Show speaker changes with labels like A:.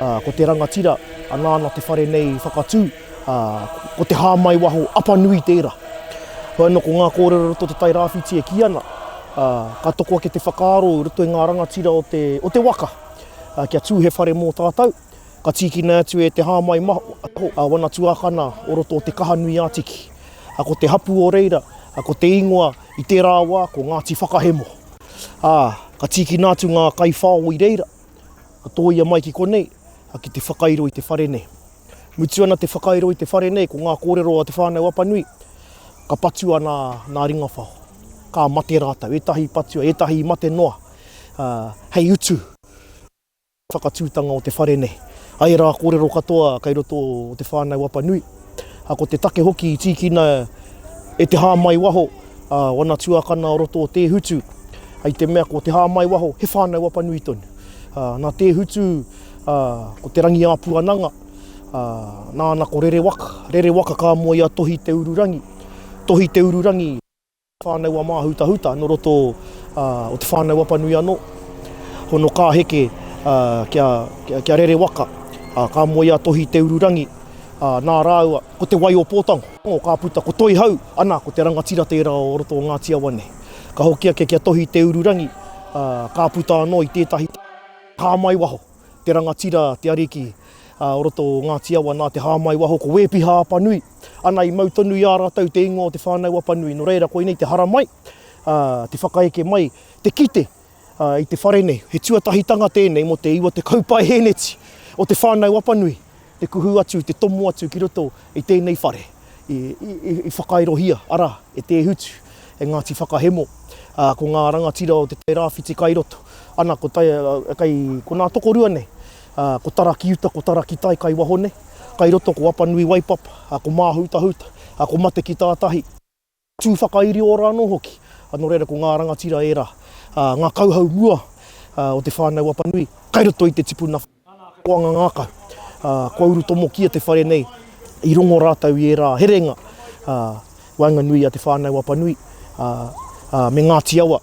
A: Ā, ko te rangatira, anā ana te whare nei i whakatū, ā, ko te hāmai waho Apanui tērā. Hoi anō ko ngā kōrero roto o Te Tai Rāwhiti e kī ana, ā, ka toko ake te whakaaro i roto i ngā rangatira o te, o te waka, ā, kia tū he whare mō tātou, ka tīkina atu e te hāmai maho, a wana tuākana o roto o Te Kaha-nui-ā-tiki, ā, ko te hapu o reira, ko te ingoa, I tērā wā ko Ngāti Whakahemo, ā, ka tīkina atu ngā kaiwhao i reira, ka tōia mai ki konei, ā, ki te whakairo i te whare nei. Mutu ana te whakairo i te whare nei, ko ngā kōrero a Te Whānau Apanui, ka patua nā, nā Ringawhao. Ka mate rātou, ētahi i patua, ētahi i mate noa, ā, hei utu. Whakatūtanga o te whare nei. Ai rā kōrero katoa kei roto o te whānau Apanui, ā, ko te take hoki i tīkina e te hāmai waho ā wana tuakana o roto o Tēhutu, i te mea ko te hāmai waho he whānau Apanui tonu. Ā, nā Tēhutu, ā, ko Te Rangiāpuananga, ā, nāna ko Rerewaka, Rerewaka ka moe i a Tohi Te Ururangi, Tohi Te Ururangi. Whānau a Māhutahuta nō roto o Te Whānau Apanui anō. Hono ka heke kia rere waka, ka moe a Tohi Te Ururangi nā rāua ko Te Wai-o-Pōtango ka puta ko Toihau, ana ko te rangatira tērā o roto o Ngāti Awa nei. Ka hoki ake ki a Tohi Te Ururangi ka puta anō i tētahi tāmai waho. te rangatira, te ariki o roto o Ngāti Awa nā te hāmai waho ko Wēpiha Apanui. Ana i mau tonu i a rātou te ingoa o Te Whānau Apanui. Nō reira, koinei te haramai, te whakaeke mai, te kite i te whare nei. He tuatahitanga tēnei mō te iwa tekau paeheneti o Te Whānau Apanui. te kuhu atu, te tomo atu ki roto i tēnei whare i whakairohia, arā, e Te Hutu, e Ngāti Whakahemo, ko ngā rangatira o Te Tai Rāwhiti kai roto, ana, ko tai, kai, ko nā tokorua nei, ko Tarakiuta, ko Tarakitai kai waho nei, kai roto ko Apanui Waipapa, ko Māhutahuta, ko Matekitātahi. Tū whakairi ora anō hoki. Nō reira, ko ngā rangatira ērā, ngā kauhau mua o te whānau Apanui, kai roto i te tipuna whakaoanga ngākau. Kua uru tomokia te whare nei, i rongo rātou i ērā herenga waenganui i a Te Whānau Apanui me Ngāti Awa.